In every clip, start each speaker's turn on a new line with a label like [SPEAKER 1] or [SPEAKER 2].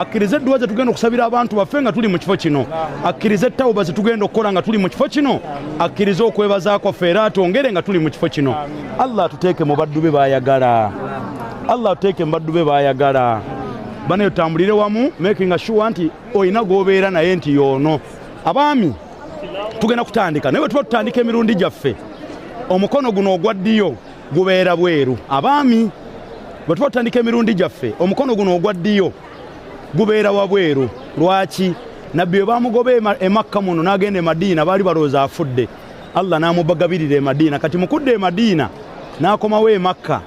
[SPEAKER 1] akkirize edduwa ze tugenda okusabira abantu baffe nga tuli mu kifo kino akkirize ettawuba ze tugenda okukola nga tuli mu kifo kino akkirize okwebaza kwaffe era atwongere nga tuli mu kifo kino allah atuteeke mu baddu be baayagala allah atuteeke mu baddu be baayagala bana yotambulire wamu making sure nti olina gwobeera naye nti yoono abaami tugenda kutandika naye bwe tuba tutandika emirundi gyaffe omukono guno ogwa ddiyo gubeera bweru abaami bwe tuba tutandika emirundi gyaffe omukono guno ogwa ddiyo gubeera wabweru lwaki nabbi bwe bamugoba emakka muno n'agenda emadiina baali balowooza afudde allah n'amubagabirira emadiina kati mukudda emadiina n'akomawo emakka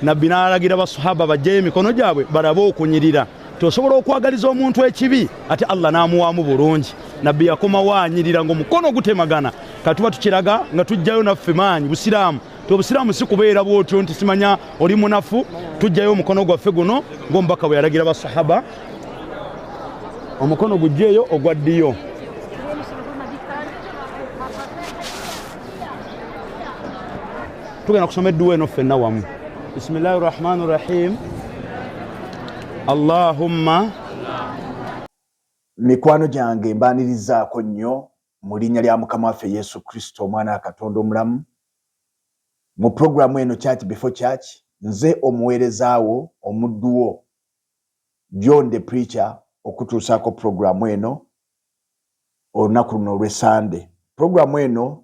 [SPEAKER 1] nabbi n'alagira basahaba bajjayo emikono gyabwe balabe okunyirira tosobola okwagaliza omuntu ekibi ate allah n'amuwaamu bulungi nabbi yakomawo anyirira ng'omukono gutemagana katuba tukiraga nga tujjayo naffe maanyi busiraamu ti obusiraamu si kubeera bwotyo nti simanya oli munafu tujjayo omukono gwaffe guno ngaomubaka bwe yalagira basahaba omukono gujjeeyo ogwa ddiyo tugenda kusoma edduwa eno ffenna wamu bisimillahi rahmani rahim allahumma
[SPEAKER 2] mikwano gyange mbanirizaako nnyo mu linnya lya mukama waffe yesu kristo omwana wa katonda omulamu mu puroguramu eno church before church nze omuweerezaawo omudduwo john the preacher okutuusaako puroguramu eno olunaku luno olwesande puroguramu eno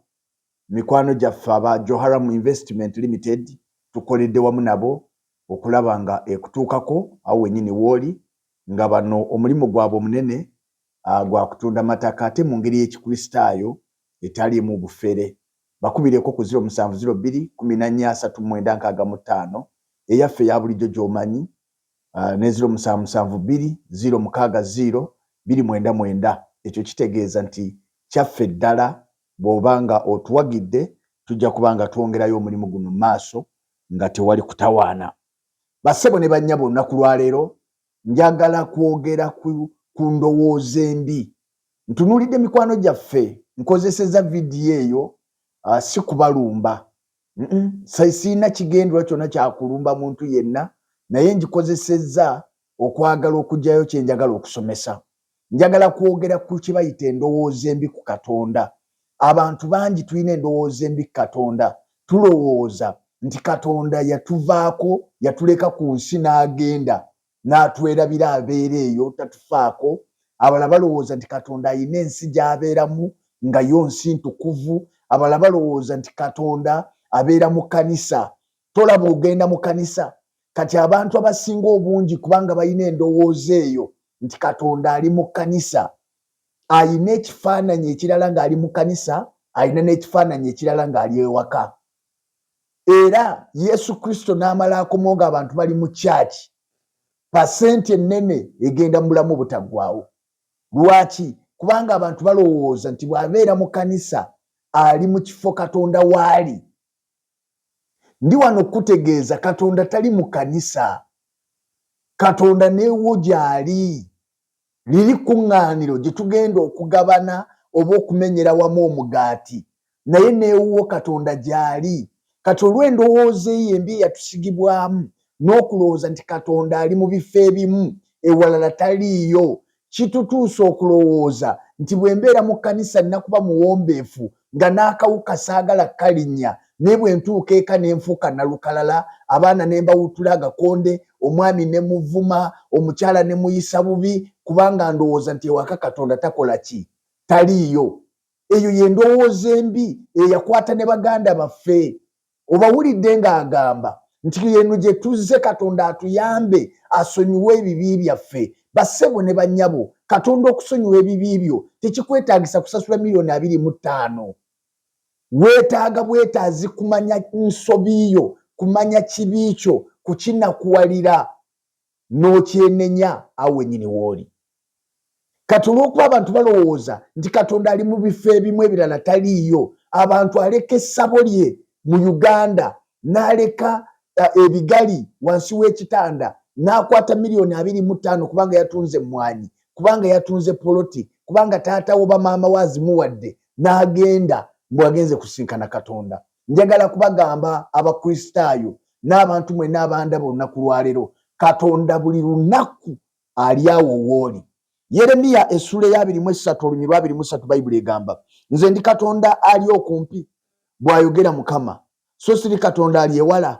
[SPEAKER 2] mikwano gyaffe aba joharam investment limited tukoledde wamu nabo okulaba nga ekutuukako awo wenyini wooli nga bano omulimu gwabwe omunene gwa kutunda mataka ate mu ngeri y'Ekikristaayo etaliimu bufere. Bakubireeko ku ziro musanvu ziro bbiri kkumi na nnya asatu mu mwenda nkaaga mu ttaano, eyaffe eya bulijjo gy'omanyi, ne ziro musanvu musanvu bbiri ziro mukaaga ziro bbiri mwenda mwenda. Ekyo kitegeeza nti kyaffe ddala. Bw'oba nga otuwagidde, tujja kuba nga twongerayo omulimu guno mu maaso nga tewali kutawaana. Bassebo ne bannyabo, olunaku lwa leero Njagala kwogera ku, ku ndowooza embi. Ntunuulidde mikwano gyaffe. Nkozesezza vidiyo eyo, uh, si kubalumba. Mm-mm. Sirina kigendererwa kyonna kya kulumba muntu yenna, naye ngikozesezza okwagala okugyayo kye njagala okusomesa. Njagala kwogera ku kye bayita endowooza embi ku Katonda. Abantu bangi tulina endowooza embi ku Katonda. Tulowooza nti Katonda yatuvaako, yatuleka ku nsi n'agenda n'atwerabira abeera eyo tatufaako. Abalala balowooza nti Katonda alina ensi gy'abeeramu nga yo nsi ntukuvu. Abalala balowooza nti Katonda abeera mu kkanisa tolaba ogenda mu kanisa kati abantu abasinga obungi kubanga balina endowooza eyo nti katonda ali mu kanisa alina ekifaananyi ekirala ng'ali mu kanisa alina n'ekifaananyi ekirala ng'ali ewaka era yesu kristo n'amala akomo nga abantu bali mu kyaki pasenti ennene egenda mu bulamu obutaggwawo lwaki kubanga abantu balowooza nti bw'abeera mu kanisa ali mu kifo katonda waali Ndi wano okukutegeeza Katonda tali mu kanisa. Katonda newo gyali. Liri kuŋŋaaniro gye tugenda okugabana oba okumenyera wamu omugaati, naye n'ewuwo Katonda gy'ali. Kati olw'endowooza eyo embi eyatusigibwamu, n'okulowooza nti Katonda ali mu bifo ebimu, ewalala taliiyo, Kitutuusa okulowooza nti bwe mbeera mu kkanisa nina kuba muwombeefu nga n'akawuka saagala kalinnya naye bwe ntuuka eka ne nfuuka nalukalala, abaana ne mbawuttula agakonde, omwami ne muvuma, omukyala ne muyisa bubi kubanga ndowooza nti ewaka Katonda takola ki? Taliiyo. Eyo ye ndowooza embi eyakwata ne baganda baffe. obawulidde ng'agamba nti eno gye tuzze katonda atuyambe asonyiwe ebibi byaffe bassebo ne bannyabo katonda okusonyiwa ebibi byo tekikwetaagisa kusasula miliyoni abiri mu ttaano weetaaga bwetaazi kumanya nsobi yo kumanya kibi kyo kukinakuwalira n'okyenenya awo wenyini wooli kati olwokuba abantu balowooza nti katonda ali mu bifo ebimu ebirala taliiyo abantu aleka essabo lye mu uganda n'aleka eh, ebigali wansi w'ekitanda n'akwata miliyoni abiri mu ttaano kubanga yatunze emmwanyi kubanga yatunze poloti kubanga taata wo bamaama wo azimuwadde n'agenda mbwagenze kusinkana katonda Njagala kubagamba Abakristaayo n'abantu mwenna abandaba olunaku lwa leero, Katonda buli lunaku ali awo wooli. Yeremiya essula ey'abiri mu essatu olunyirwa abiri mu ssatu Bayibuli egamba, Nze ndi Katonda ali okumpi, bw'ayogera Mukama, so siri Katonda ali ewala,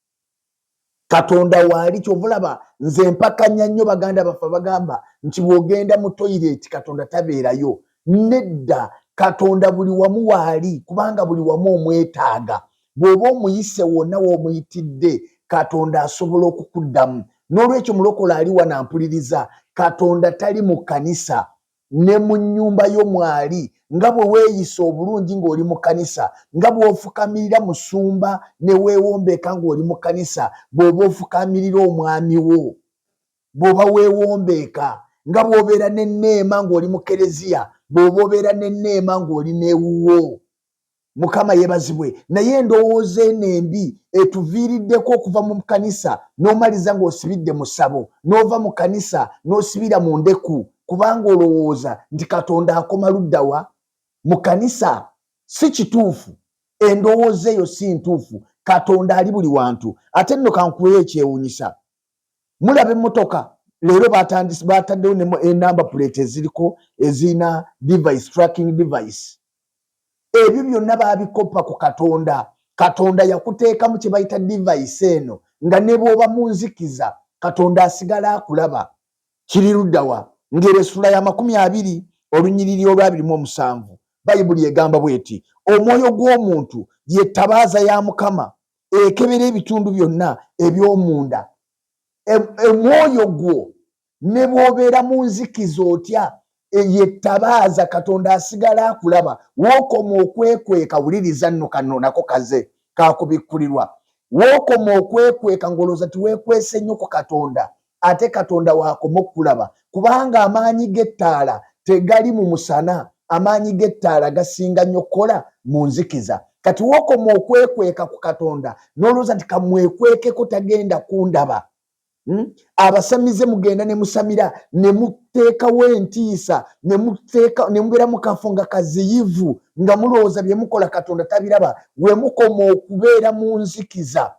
[SPEAKER 2] katonda waali kyova olaba nze mpakanya nnyo baganda baffe bagamba nti bwogenda mu toyireti katonda tabeerayo nedda katonda buli wamu waali kubanga buli wamu omwetaaga bw'oba omuyise wonna w'omuyitidde katonda asobola okukuddamu n'olwekyo mulokole ali wanampuliriza katonda tali mu kkanisa ne mu nnyumba yo mwali, nga bwe weeyisa obulungi ng'oli mu kkanisa, nga bw'ofukamirira musumba ne weewombeeka ng'oli mu kkanisa, bw'oba ofukaamirira omwami wo, bw'oba weewombeeka, nga bw'obeera n'enneema ng'oli mu Kkereziya, bw'oba obeera n'enneema ng'oli n'ewuwo. Mukama yebazibwe naye endowooza eno embi etuviiriddeko okuva mu kanisa n'omaliza ng'osibidde mu ssabo n'ova mu kanisa n'osibira mu ndeku kubanga olowooza nti Katonda akoma ludda wa? Mu kanisa? Si kituufu. Endowooza eyo si ntuufu. Katonda ali buli wantu. Ate nno kankuweeyo ekyewuunyisa. mulaba emmotoka leero batandisi bataddewo ne enamba eh, puleti eziriko ezirina device tracking device ebyo byonna babikoppa ku katonda katonda yakuteekamu kye bayita device eno nga ne bw'oba mu nzikiza katonda asigala akulaba kiri luddawa ng'era essula ya makumi abiri olunyiriri olwabiri mu omusanvu bayibuli egamba bw'eti omwoyo gw'omuntu ye ttabaaza ya mukama ekebera ebitundu byonna eby'omunda omwoyo e, gwo ne bw'obeera mu nzikiza otya eyettabaaza katonda asigala akulaba wookoma okwekweka wuliriza nno kanno nako kaze kakubikkulirwa wookoma okwekweka ng'olowooza tiweekwese nnyo ku katonda ate katonda wakoma okukulaba kubanga amaanyi g'ettaala tegali mu musana amaanyi g'ettaala gasinga nnyo okukola mu nzikiza kati wokoma okwekweka ku katonda n'olowooza nti kamwekwekeko tagenda kundaba Hmm? abasamize mugenda ne musamira ne muteekawo entiisa ne mubeera mu kafo nga kaziyivu nga mulowooza bye mukola katonda tabiraba we mukoma okubeera mu nzikiza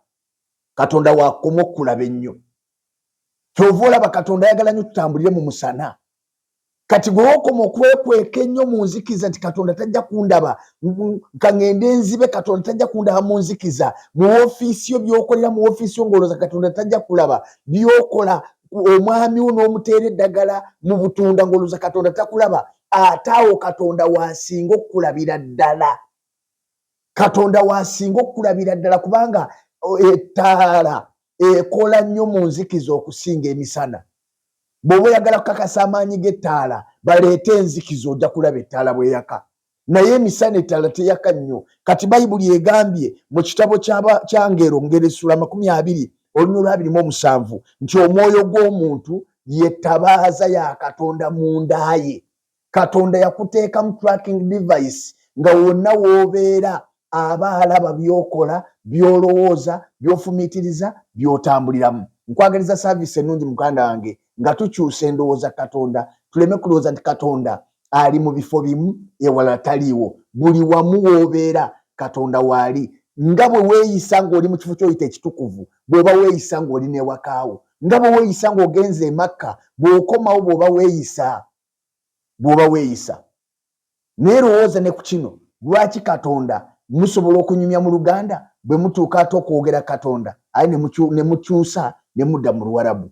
[SPEAKER 2] katonda wakoma okukulaba ennyo kyova olaba katonda ayagala nyo tutambulire mu musana kati gwewokoma okwekweka ennyo mu nzikiza nti katonda tajja kundaba kangende nzibe katonda tajja kundaba mu nzikiza mu ofiisi yo byokolera mu ofiisi yo ngaoloza katonda tajja kulaba byokola omwami wo n'omuteera eddagala mu butunda ngaoloza katonda takulaba ate awo katonda wasinga okukulabira ddala katonda wasinga okukulabira ddala kubanga ettaala ekola nnyo mu nzikiza okusinga emisana bw'oba oyagala kukakasa amaanyi g'ettaala baleete enzikiza ojja kulaba ettaala bweyaka naye emisana ettaala teyaka nnyo kati bayibuli egambye mu kitabo kyangero ngeresula amakumi abiri olunya olwabirimu omusanvu nti omwoyo gw'omuntu yetabaaza ya katonda mu ndaaye katonda yakuteekamu tracking device nga wonna woobeera aba alaba byokola byolowooza byofumiitiriza byotambuliramu nkwagaliza saavisi ennungi muganda wange nga tukyusa endowooza katonda tuleme kulowooza nti katonda ali mu bifo bimu ewala taliiwo buli wamu woobeera katonda waali nga bwe weeyisa ng'oli mu kifo kyoyita ekitukuvu bw'oba weeyisa ng'oli n'ewaka wo, nga bwe weeyisa ng'ogenze e Makka, bw'okomawo bw'oba weeyisa bw'oba weeyisa. Naye lowooza ne ku kino, lwaki Katonda musobola okunyumya mu Luganda bwe mutuuka ate okwogera Katonda, ayi ne mukyusa ne mudda mu Luwarabu?